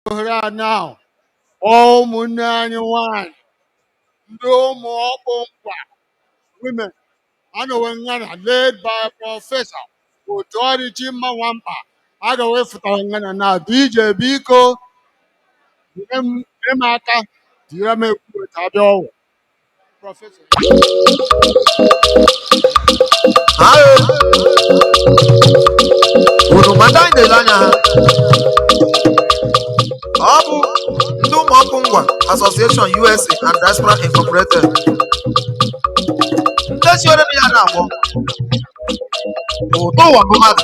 ohere a now kpọọ ụmụnne anyị nwanyị ndị ụmụ ọkpụ ngwa women anọwe ngana led by prọfesọ otu ọdịchimma nwamkpa agawe fụtara ngana now dj biko nyere m nyere m aka tinyere m egwu weta bịa ọgbọ Professor. Ayo. Unu ma ndị anyị na-ele anya ha. Ọ bụ ndị ụmụ ọkpụ Ngwa Association USA and Diaspora Incorporated. Ndị siere m ya na-agbọ. Ụtọ ụwa bụ mmadụ.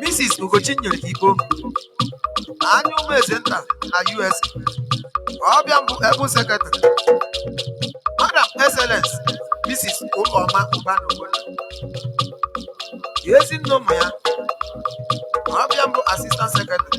Mrs. Ugochinyere Igbo anya ụmụ eze nta na US ọ bụ ya mbụ able Secretary Madam Excellence Mrs. Ụlọma Ụbanị Ogbonna ezi nne ụmụ ya ọ bụ ya mbụ Assistant Secretary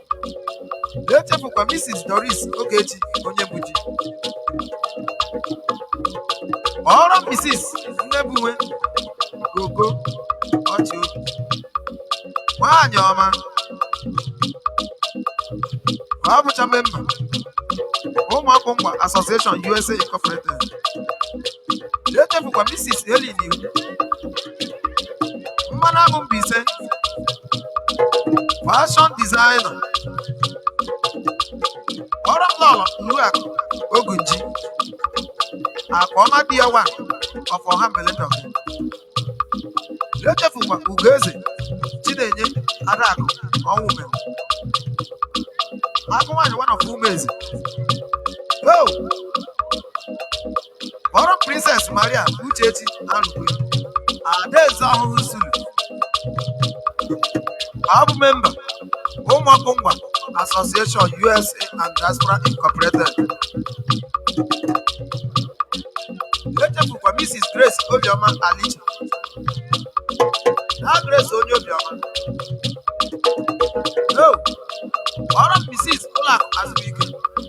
na-echefukwa Mrs. Doris Ogechi Onyebuchi oruo Mrs. Nnebuwe Gogo ọchị obi nwaanyị ọma ọ bụcha memba ụmụ ọkpụ Ngwa Association USA Incorporated na-echefukwa Mrs. Helen Iwu mmanụ aṅụ Mbaise fashion designer oruo Lọlọ Ụlọakụ Ogunji Akụọma di ya one of Ọhambele na-echefukwa Ugoeze Chinenye Adakụ Ọnwụmere agụ nwaanyị one of Ụmụeze oh oruo Princess Maria Uchechi Arụkwe Adaeze Ọhụhụ Nsulu ọ bụ memba ụmụ ọkpụ Ngwa Association USA and Diaspora Incorporated echefukwa Mrs. Grace Obioma Aliche na Grace onye obiọma no oruo Mrs. Ụlọakụ Azụbụike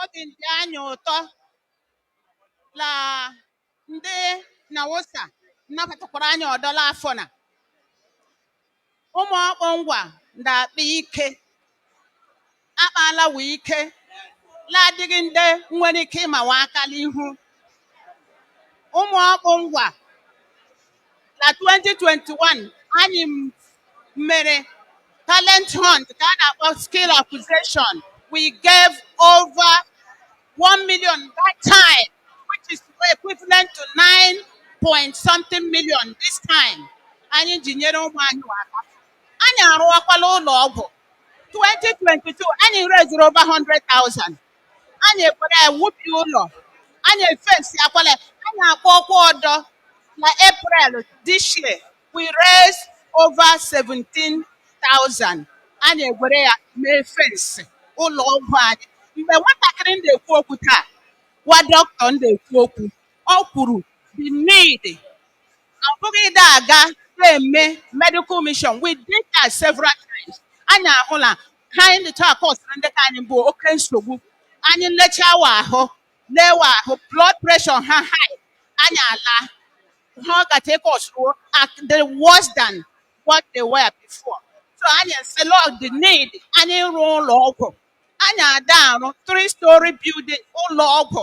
Obi dị anyị ụtọ la ndị NNAUSA nnabatakwara anyị ọdọ la afọ na ụmụ ọkpụ ngwa ndị akpa ike akpa la ebe ike la-adịghị ndị nwere ike ịmawa aka la ihu ụmụ ọkpụ ngwa na 2021 anyị mere talent hunt ka a na-akpọ skill acquisition we gave over 1 million that time which is equivalent to 9 point something million this time anyị ji nyere ụmụ anyị aka anyị arụọkwala ụlọ ọgwụ 2022 anyị reeziri over 100,000 Anyị egwere ya wubie ụlọ, anyị efensiakwala ya, anyị akpọọkwa ọdọ na April this year we raised over 17,000 anyị egwere ya mee fensị ụlọ ọgwụ anyị mgbe nwatakịrị ndị ekwu okwu taa nwa dọkịta ndị ekwu okwu ọ kwuru the need ọ bụghị ịda aga na-eme medical mission we did that several times anyị ahụla ha anyị dịcha akọsụrụ ndị ka anyị bụ oke nsogbu anyị lechaa wa ahụ lee wa ahụ blood pressure ha high anyị ala ha ọ gacha akọsụrụ dị worse than what they were before so anyị sị la ọ dị need anyị rụọ ụlọ ọgwụ anyị ada arụ three story building ụlọ ọgwụ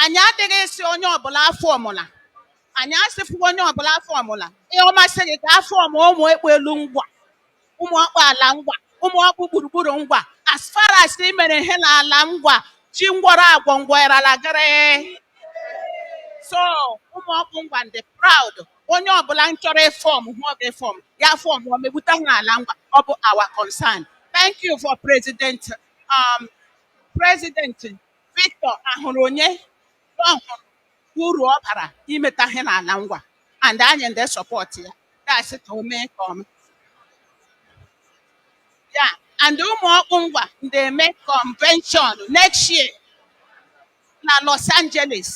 Anyị adịghị ịsị onye ọbụla afọmụla. Anyị asịfụ onye ọbụla afọmụla. Ihe ọ masị gị gaa fọm ụmụ ọkpụ elu ngwa, ụmụ ọkpụ ala ngwa, ụmụ ọkpụ gburugburu ngwa. As far as ị mere ihe n'ala ngwa, chi ngwọrọ agwọ ngwọ ịrala gịrị. So ụmụ ọkpụ ngwa ndị proud. Onye ọbụla nchọrọ ịfọm hụ ọ ga-efọm ya fọm ọ megbute hụ n'ala ngwa. Ọ bụ our concern. Thank you for President um, President Victor Ahụruonye ọ hụrụ uru ọ bara imeta ihe n'ala ngwa and anyị ndị sọpọtụ ya dasị ka o mee ka ọma ya and ụmụ ọkpụ ngwa ndị eme convention next year na Los Angeles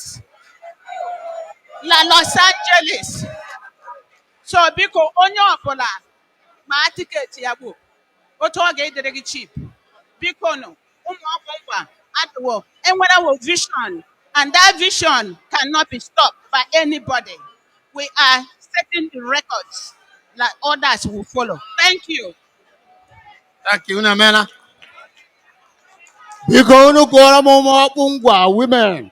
na Los Angeles so biko onye ọbụla maa tiketi ya gboo otu ọ ga-adịrị gị cheap biko nụ ụmụ ọkpụ ngwa adịwo enwerewo vision and that vision cannot be stopped by anybody we are setting the records like others will follow thank you thank you unu emeela biko unu kụọrọ m ụmụ ọkpụ ngwa women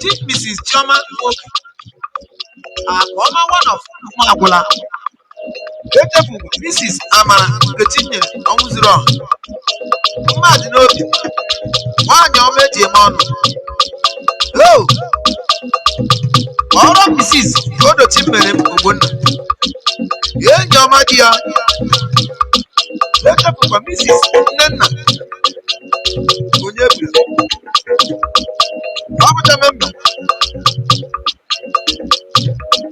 Chief Mrs. Chioma Nwoke Akụọma one of Ụmụagwụla echefu Mrs. Amara Nkechinyere Ọnwụzuruọha mma dị n'obi nwaanyị ọma eji eme ọnụ o Lọlọ Mrs. Odochimerem Ogbonna enyi ọma di ya echefukwa Mrs. Nnenna onye bi ọ bụcha memba